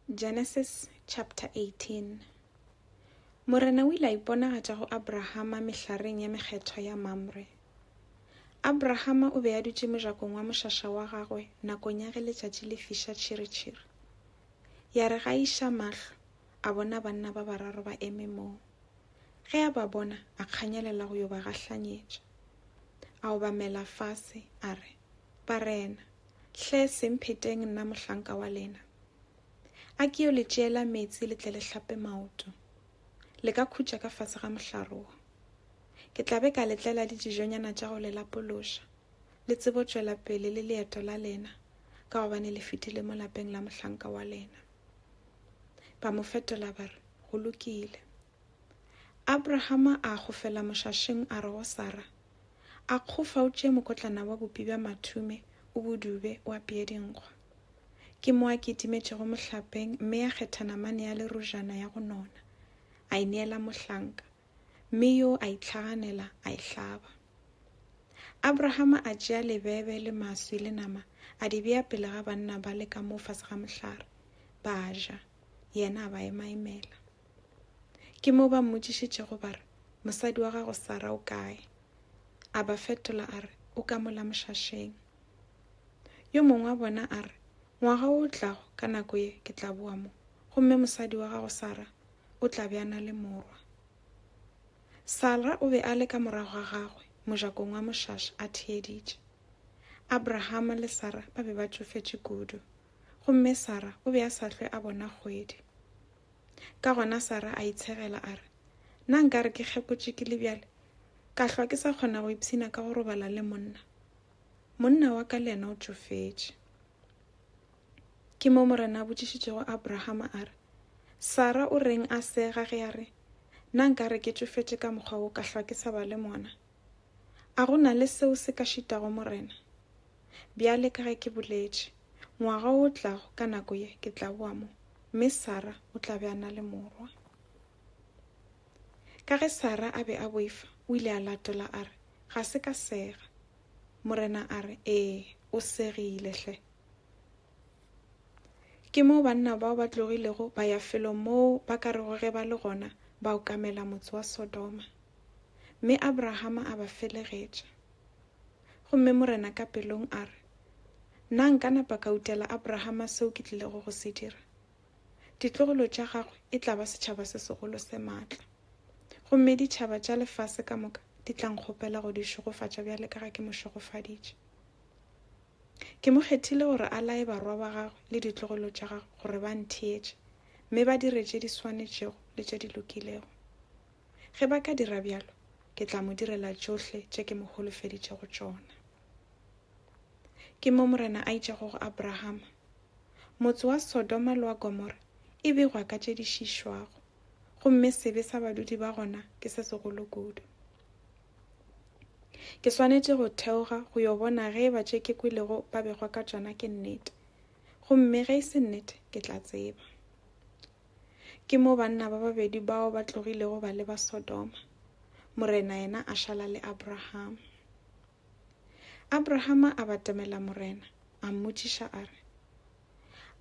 Genesis chapter 18 Morena o ile a iponagatša go Abrahama mehlareng ya mekgethwa ya Mamre. Abrahama o be a dutše mojakong wa mošaša wa gagwe nakong ya ge letšatši le fiša tšhiritšhiri. Ya re ga iša mahlo, a bona banna ba bararo ba eme moo. Ge a ba bona, a kganyelela go yo ba gahlanyetša. A obamela fase, a re, Barena, hle se mpheteng nna mohlanka wa lena. A ke yo le tšeela meetse le tle le hlape maoto. Le ka khutša ka fase ga mohlare wo. Ke tla be ka le tlela le dijonyana tša go le lapološa, le tsebo tšwela pele le leeto la lena, ka gobane le fetile mo lapeng la mohlanka wa lena. Ba mo fetola ba re, Go lokile. Abrahama a gofela mošašeng a re go Sara, A kgofa o tšee mokotlana wa bopi bja mathume, o bo dube, o apeye dinkgwa. Ke mo a kitimetšego mohlapeng mme a kgetha namane ya lerojana ya go nona, a e neela mohlanka, mme yo a itlhaganela a e hlaba. Abrahama a tšea lebebe le maswi le nama a di bea pele ga banna bale ka mo fase ga mohlare, ba a ja, yena a ba emaemela. Ke moo ba mmotšišitšego ba re, Mosadi wa gago Sara o kae? A ba fetola a re, O ka mola mošašeng. Yo mongwe wa bona a re, Ngwaga o tlago ka nako ye ke tla boa mo, gomme mosadi wa gago Sara o tla be a na le morwa. Sara o be a le ka morago ga gagwe mojakong wa mošaša a theeditše. Abrahama le Sara ba be ba tšofetše kudu, gomme Sara o be a sa hlwe a bona kgwedi. Ka gona Sara a itshegela a re, Na nka re ke kgepotše ke le bjale, ka hlwa ke sa kgona go ipshina ka go robala le monna? Monna wa ka le yena o tšofetše. Ke mo Morena a botšišitšego Abrahama a re, Sara o reng a sega ge a re, Na nka re ke tšofetše ka mokgwa wo ka hlwa ke sa ba le mona? A go na le seo se ka šitago Morena? Bjale ka ge ke boletše, ngwaga o tlago ka nako ye ke tla boa mo, mme Sara o tla be a na le morwa. Ka ge Sara a be a boifa, o ile a latola a re, Ga se ka sega. Morena a re, Ee, o segile hle. Ke moo banna bao ba tlogilego ba ya felong moo ba ka rego ge ba le gona ba okamela motse wa Sodoma. Mme Abrahama a ba felegetša. Gomme Morena ka pelong a re, Na nka napa ka utela Abrahama seo ke tlilego go se dira? Ditlogolo tša gagwe e tla ba setšhaba se segolo se matla, gomme ditšhaba tša lefase ka moka di tla nkgopela go di šegofatša bjale ka ge ke mo šegofaditše. Ke mo kgethile gore a laye barwa ba gagwe le ditlogolo tša gagwe gore ba ntheetše, mme ba dire tše di swanetšego le tše di lokilego. Ge ba ka dira bjalo, ke tla mo direla tšohle tše ke mo holofeditšego tšona. Ke mo Morena a itšego go Abrahama, Motse wa Sodoma le wa Gomora e begwa ka tše di šišwago, gomme sebe sa badudi ba gona ke se segolo kudu. Ke swanetše go theoga go yo bona ge eba tše ke kwelego ba begwa ka tšona ke nnete. Gomme ge e se nnete, ke tla tseba. Ke mo banna ba babedi bao ba tlogilego ba leba Sodoma, Morena yena a šala le Abrahama. Abrahama a batamela Morena, a mmotšiša a re,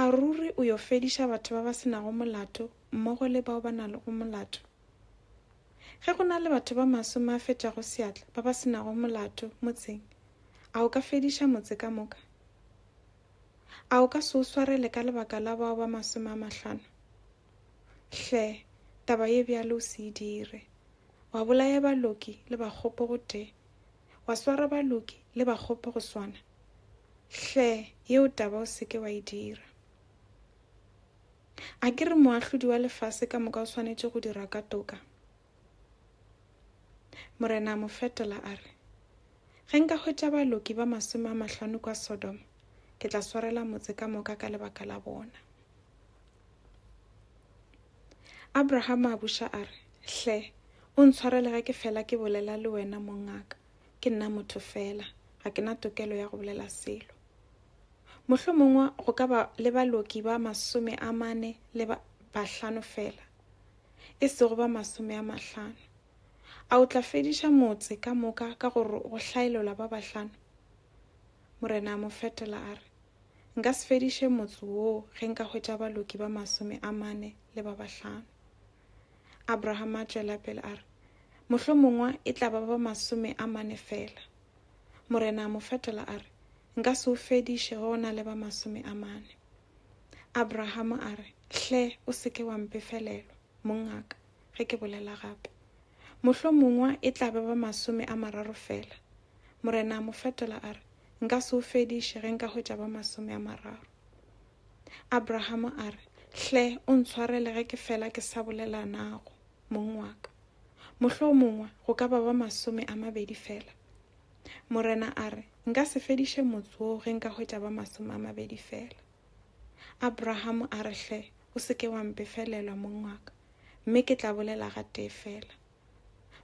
A ruri o yo fediša batho ba ba se nago molato mmogo le bao ba nago molato? Ge go na le batho ba masome a fetago seatla ba ba se nago molato motseng, a o ka fediša motse ka moka? A o ka se o swarele ka lebaka la bao ba masome a mahlano? Hle, taba ye bjalo o se e dire! Wa bolaya baloki le bakgopo gotee, wa swara baloki le bakgopo go swana? Hle, yeo taba o se ke wa e dira! A ke re moahlodi wa lefase ka moka o swanetše go dira ka toka? Morena a mo fetola a re, Ge nka hwetša baloki ba masome a mahlano kwa Sodoma, ke tla swarela motse ka moka ka lebaka la bona. Abrahama a buša a re, Hle, o ntshwarele ge ke fela ke bolela le wena mongaka, ke nna motho fela, ga ke na tokelo ya go bolela selo. Mohlomongwe go ka ba le baloki ba masome a mane le ba bahlano fela, e sego ba masome a mahlano. A o tla fediša motse ka moka ka go hlaelola ba bahlano? Morena a mo fetola a re, Nka se fediše motse woo ge nka hwetša baloki ba masome a mane le ba bahlano. Abraham a tšwela pele a re, Mohlomongwe e tla ba ba masome a mane fela. Morena a mo fetola a re, Nka se o fediše ge o na le ba masome a mane. Abraham a re, Hle, o se ke wa mpefelelwa, mongaka, ge ke bolela gape. Mohlomongwa e tla ba ba masome a mararo fela. Morena a mo fetola a re, Nka se o fediše ge nka hwetša ba masome a mararo. Abraham a re, Hle, o ntshwarele ge ke fela ke sa bolela nago. mong wa ka. Mohlomongwe go ka ba ba masome a mabedi fela. Morena a re, Nka se fediše motse wo ge nka hwetša ba masome a mabedi fela. Abraham a re, Hle, o se ke wa mpefelelwa, mong wa ka, mme ke tla bolela ga tee fela.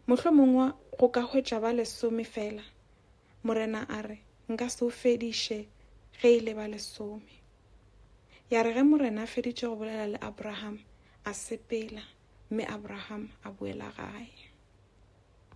Mohlomongwe go ka hwetša ba lesome fela. Morena a re, Nka se o fediše ge e le ba lesome. Ya re ge Morena a feditše go bolela le Abraham, a sepela, mme Abraham a boela gae.